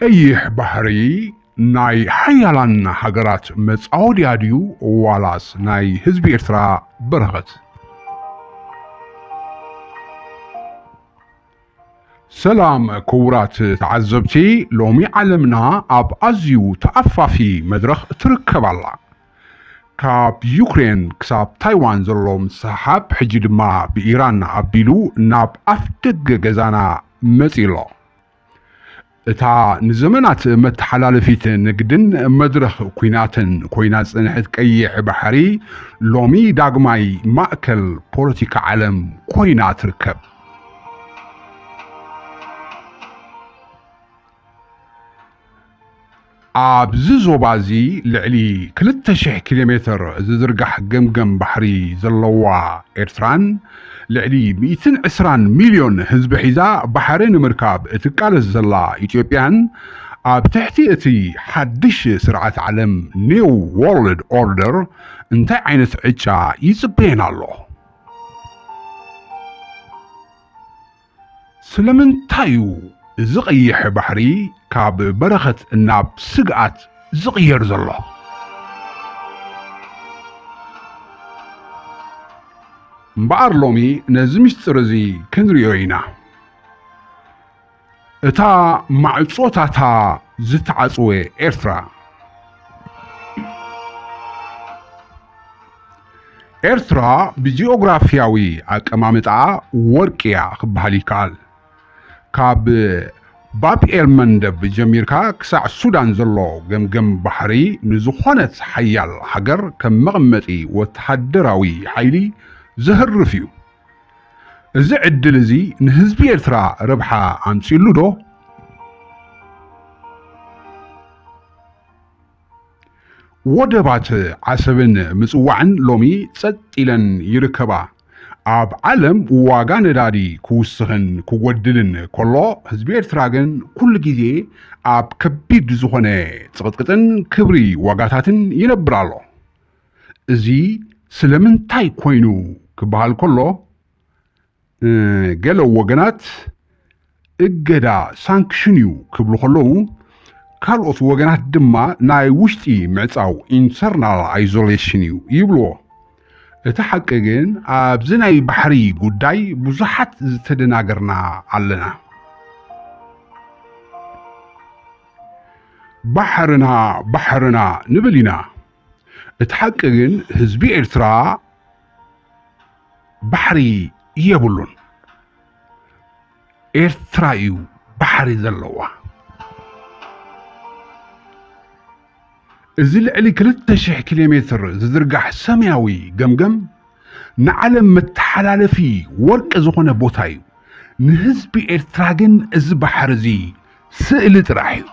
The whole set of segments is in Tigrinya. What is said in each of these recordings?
ቀይሕ ባሕሪ ናይ ሓያላን ሃገራት መጻወድያ ድዩ ዋላስ ናይ ህዝቢ ኤርትራ በረኸት? ሰላም ክቡራት ተዓዘብቲ፣ ሎሚ ዓለምና ኣብ ኣዝዩ ተኣፋፊ መድረኽ ትርከብ ኣላ። ካብ ዩክሬን ክሳብ ታይዋን ዘሎ ምስሕሓብ ሕጂ ድማ ብኢራን ኣቢሉ ናብ ኣፍ ደገ ገዛና መጺኡ ኣሎ። እታ ንዘመናት መተሓላለፊት ንግድን መድረኽ ኲናትን ኮይና ዝጸንሐት ቀይሕ ባሕሪ ሎሚ ዳግማይ ማእከል ፖለቲካ ዓለም ኮይና ትርከብ። ኣብዚ ዞባ እዚ ልዕሊ ክልተ ሽሕ ኪሎ ሜተር ዝዝርጋሕ ገምገም ባሕሪ ዘለዋ ኤርትራን ልዕሊ ሚእትን ዕስራን ሚልዮን ህዝቢ ሒዛ ባሕሪ ንምርካብ እትቃለስ ዘላ ኢትዮጵያን ኣብ ትሕቲ እቲ ሓድሽ ስርዓት ዓለም ኒው ዎርልድ ኦርደር እንታይ ዓይነት ዕጫ ይጽበየን ኣሎ? ስለምንታይ'ዩ እዚ ቀይሕ ባሕሪ ካብ በረኸት ናብ ስግኣት ዝቕየር ዘሎ? እምበኣር ሎሚ ነዚ ምስጢር እዚ ክንርእዮ ኢና። እታ ማዕጾታታ ዝተዓጽወ ኤርትራ። ኤርትራ ብጂኦግራፊያዊ ኣቀማምጣኣ ወርቂ እያ ክበሃል ይከኣል። ካብ ባብኤል መንደብ ጀሚርካ ክሳዕ ሱዳን ዘሎ ገምገም ባሕሪ ንዝኾነት ሓያል ሃገር ከም መቐመጢ ወተሃደራዊ ሓይሊ ዘህርፍ እዩ። እዚ ዕድል እዚ ንህዝቢ ኤርትራ ረብሓ ኣምጺኡሉ ዶ? ወደባት ዓሰብን ምጽዋዕን ሎሚ ጸጥ ኢለን ይርከባ። ኣብ ዓለም ዋጋ ነዳዲ ክውስኽን ክጎድልን ከሎ ህዝቢ ኤርትራ ግን ኩሉ ግዜ ኣብ ከቢድ ዝኾነ ጽቕጥቅጥን ክብሪ ዋጋታትን ይነብር ኣሎ። እዚ ስለምንታይ ኮይኑ ክበሃል ከሎ ገለ ወገናት እገዳ ሳንክሽን እዩ ክብሉ ከለዉ ካልኦት ወገናት ድማ ናይ ውሽጢ ምዕፃው ኢንተርናል ኣይዞሌሽን እዩ ይብልዎ። እቲ ሓቂ ግን ኣብዚ ናይ ባሕሪ ጉዳይ ብዙሓት ዝተደናገርና ኣለና። ባሕርና ባሕርና ንብል ኢና። እቲ ሓቂ ግን ህዝቢ ኤርትራ ባሕሪ የብሉን ኤርትራ እዩ ባሕሪ ዘለዋ እዚ ልዕሊ 2000 ኪሎ ሜትር ዝዝርጋሕ ሰማያዊ ገምገም ንዓለም መተሓላለፊ ወርቂ ዝኾነ ቦታ እዩ ንህዝቢ ኤርትራ ግን እዚ ባሕሪ እዚ ስእሊ ጥራሕ እዩ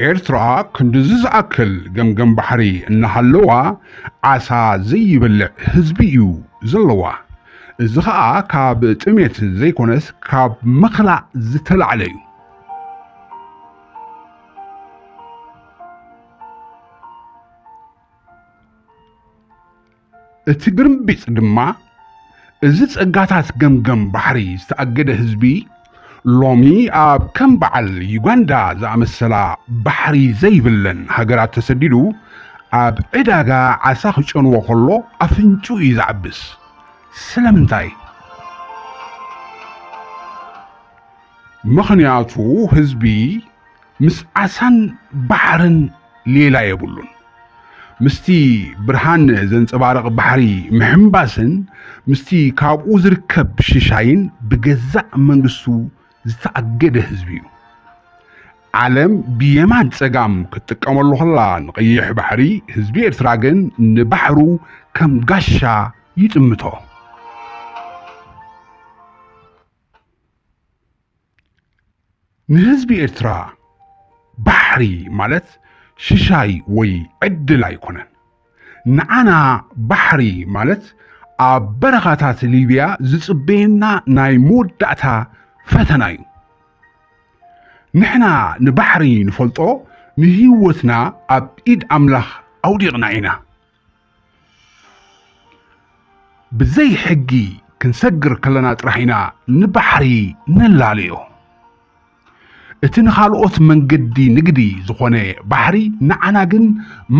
ኤርትራ ክንድዚ ዝኣክል ገምገም ባሕሪ እናሃለዋ ዓሳ ዘይበልዕ ህዝቢ እዩ ዘለዋ። እዚ ኸኣ ካብ ጥሜት ዘይኮነስ ካብ ምኽላእ ዝተላዕለ እዩ። እቲ ግርምቢጥ ድማ እዚ ጸጋታት ገምገም ባሕሪ ዝተኣገደ ህዝቢ ሎሚ ኣብ ከም በዓል ዩጋንዳ ዝኣመሰላ ባሕሪ ዘይብለን ሃገራት ተሰዲዱ ኣብ ዕዳጋ ዓሳ ክጨንዎ ከሎ ኣፍንጭኡ እዩ ዝዓብስ። ስለምንታይ? ምኽንያቱ ህዝቢ ምስ ዓሳን ባሕርን ሌላ የብሉን። ምስቲ ብርሃን ዘንጸባርቕ ባሕሪ ምሕንባስን ምስቲ ካብኡ ዝርከብ ሽሻይን ብገዛእ መንግስቱ ዝተኣገደ ህዝቢ'ዩ። ዓለም ብየማን ጸጋም ክትጥቀመሉ ከላ ንቀይሕ ባሕሪ፣ ህዝቢ ኤርትራ ግን ንባሕሩ ከም ጋሻ ይጥምቶ። ንህዝቢ ኤርትራ ባሕሪ ማለት ሽሻይ ወይ ዕድል ኣይኮነን። ንዓና ባሕሪ ማለት ኣብ በረኻታት ሊብያ ዝጽበየና ናይ መወዳእታ ፈተና እዩ። ንሕና ንባሕሪ ንፈልጦ ንህይወትና ኣብ ኢድ ኣምላኽ ኣውዲቕና ኢና። ብዘይ ሕጊ ክንሰግር ከለና ጥራሕ ኢና ንባሕሪ ንላለዮ። እቲ ንኻልኦት መንገዲ ንግዲ ዝኾነ ባሕሪ ንዓና ግን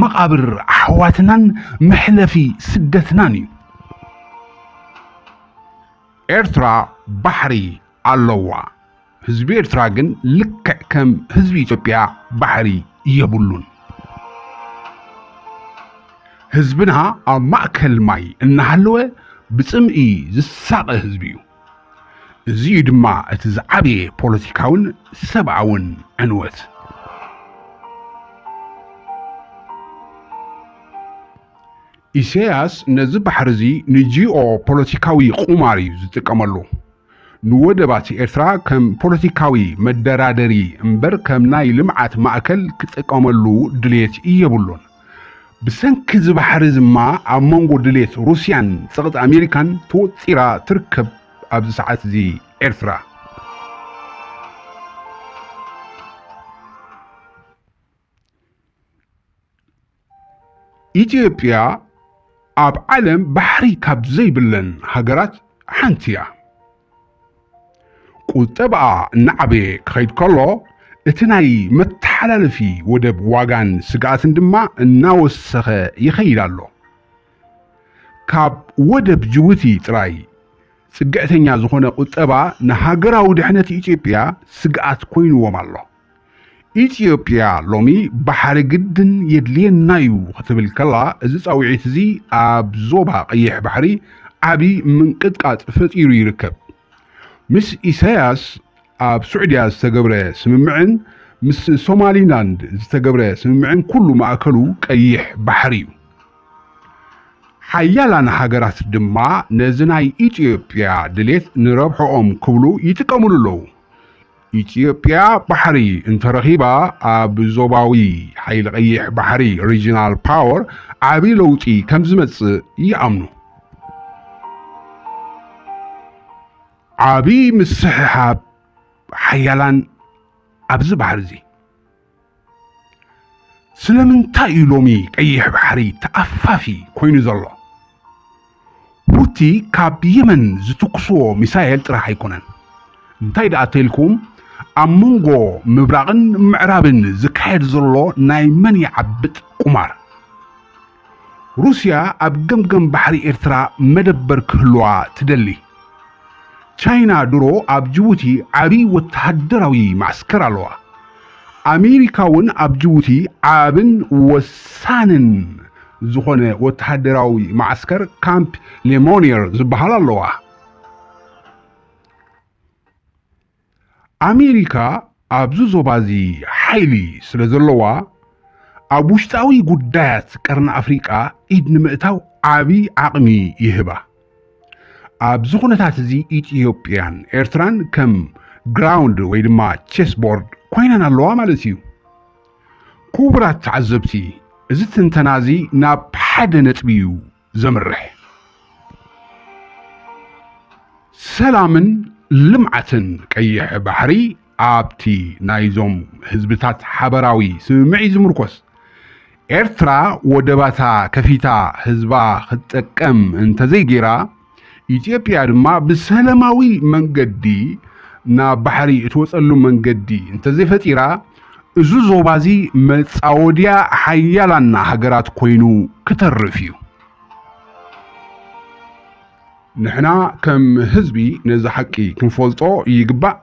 መቓብር ኣሕዋትናን መሕለፊ ስደትናን እዩ። ኤርትራ ባሕሪ ኣለዋ። ህዝቢ ኤርትራ ግን ልክዕ ከም ህዝቢ ኢትዮጵያ ባሕሪ የብሉን። ህዝብና ኣብ ማእከል ማይ እናሃለወ ብጽምኢ ዝሳቐ ህዝቢ እዩ። እዚ እዩ ድማ እቲ ዝዓበየ ፖለቲካውን ሰብኣውን ዕንወት። ኢሳያስ ነዚ ባሕሪ እዚ ንጂኦ ፖለቲካዊ ቁማር እዩ ዝጥቀመሉ። ንወደባት ኤርትራ ከም ፖለቲካዊ መደራደሪ እምበር ከም ናይ ልምዓት ማእከል ክጥቀመሉ ድሌት የብሉን። ብሰንኪ እዚ ባሕሪ እዚ እማ ኣብ መንጎ ድሌት ሩስያን ጸቕጢ ኣሜሪካን ተወጢራ ትርከብ ኣብዚ ሰዓት እዚ ኤርትራ። ኢትዮጵያ ኣብ ዓለም ባሕሪ ካብ ዘይብለን ሃገራት ሓንቲ እያ። ቁጠባኣ እናዓበየ ክኸይድ ከሎ እቲ ናይ መተሓላለፊ ወደብ ዋጋን ስግኣትን ድማ እናወሰኸ ይኸይድ ኣሎ። ካብ ወደብ ጅቡቲ ጥራይ ጽግዕተኛ ዝኾነ ቁጠባ ንሃገራዊ ድሕነት ኢትዮጵያ ስግኣት ኮይንዎም ኣሎ። ኢትዮጵያ ሎሚ ባሕሪ ግድን የድልየና እዩ ክትብል ከላ እዚ ፃውዒት እዚ ኣብ ዞባ ቀይሕ ባሕሪ ዓብዪ ምንቅጥቃጥ ፈጢሩ ይርከብ። ምስ ኢሳያስ ኣብ ሱዕድያ ዝተገብረ ስምምዕን ምስ ሶማሊላንድ ዝተገብረ ስምምዕን ኩሉ ማእከሉ ቀይሕ ባሕሪ እዩ። ሓያላን ሃገራት ድማ ነዚ ናይ ኢትዮጵያ ድሌት ንረብሕኦም ክብሉ ይጥቀምሉ ኣለዉ። ኢትዮጵያ ባሕሪ እንተረኺባ ኣብ ዞባዊ ሓይሊ ቀይሕ ባሕሪ ሪጅናል ፓወር ዓብዪ ለውጢ ከም ዝመፅእ ይኣምኑ። ዓብዪ ምስሕሓብ ሓያላን ኣብዚ ባሕሪ እዚ ስለምንታይ እዩ ሎሚ ቀይሕ ባሕሪ ተኣፋፊ ኮይኑ ዘሎ? ሁቲ ካብ የመን ዝትኩስዎ ሚሳኤል ጥራሕ ኣይኮነን። እንታይ ደኣ ተልኩም ኣብ መንጎ ምብራቕን ምዕራብን ዝካየድ ዘሎ ናይ መን ይዓብጥ ቁማር ሩስያ ኣብ ገምገም ባሕሪ ኤርትራ መደበር ክህልዋ ትደሊ። ቻይና ድሮ ኣብ ጅቡቲ ዓብዪ ወተሃደራዊ መዓስከር ኣለዋ። ኣሜሪካ እውን ኣብ ጅቡቲ ዓብን ወሳንን ዝኾነ ወተሃደራዊ መዓስከር ካምፕ ሌሞኒየር ዝበሃል ኣለዋ። ኣሜሪካ ኣብዚ ዞባ እዚ ሓይሊ ስለ ዘለዋ ኣብ ውሽጣዊ ጉዳያት ቀርኒ ኣፍሪቃ ኢድ ንምእታው ዓቢ ዓቕሚ ይህባ። ኣብዚ ኩነታት እዚ ኢትዮጵያን ኤርትራን ከም ግራውንድ ወይ ድማ ቼስ ቦርድ ኮይነን ኣለዋ ማለት እዩ። ክቡራት ተዓዘብቲ እዚ ትንተና እዚ ናብ ሓደ ነጥቢ እዩ ዘምርሕ ሰላምን ልምዓትን ቀይሕ ባሕሪ ኣብቲ ናይዞም ህዝብታት ሓበራዊ ስምምዒ ዝምርኮስ ኤርትራ ወደባታ ከፊታ ህዝባ ክትጠቀም እንተዘይጌራ ኢትዮጵያ ድማ ብሰላማዊ መንገዲ ናብ ባሕሪ እትወፀሉ መንገዲ እንተዘይፈጢራ እዚ ዞባዚ መጻወድያ ሓያላን ሃገራት ኮይኑ ክተርፍ እዩ። ንሕና ከም ህዝቢ ነዚ ሓቂ ክንፈልጦ ይግባእ።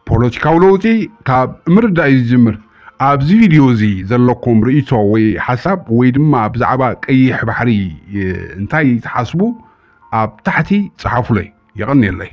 ፖለቲካዊ ለውጢ ካብ ምርዳእ እዩ ዝጅምር። ኣብዚ ቪድዮ እዚ ዘለኩም ርእይቶ ወይ ሓሳብ ወይ ድማ ብዛዕባ ቀይሕ ባሕሪ እንታይ ትሓስቡ ኣብ ታሕቲ ጸሓፉለይ። የቐንየለይ።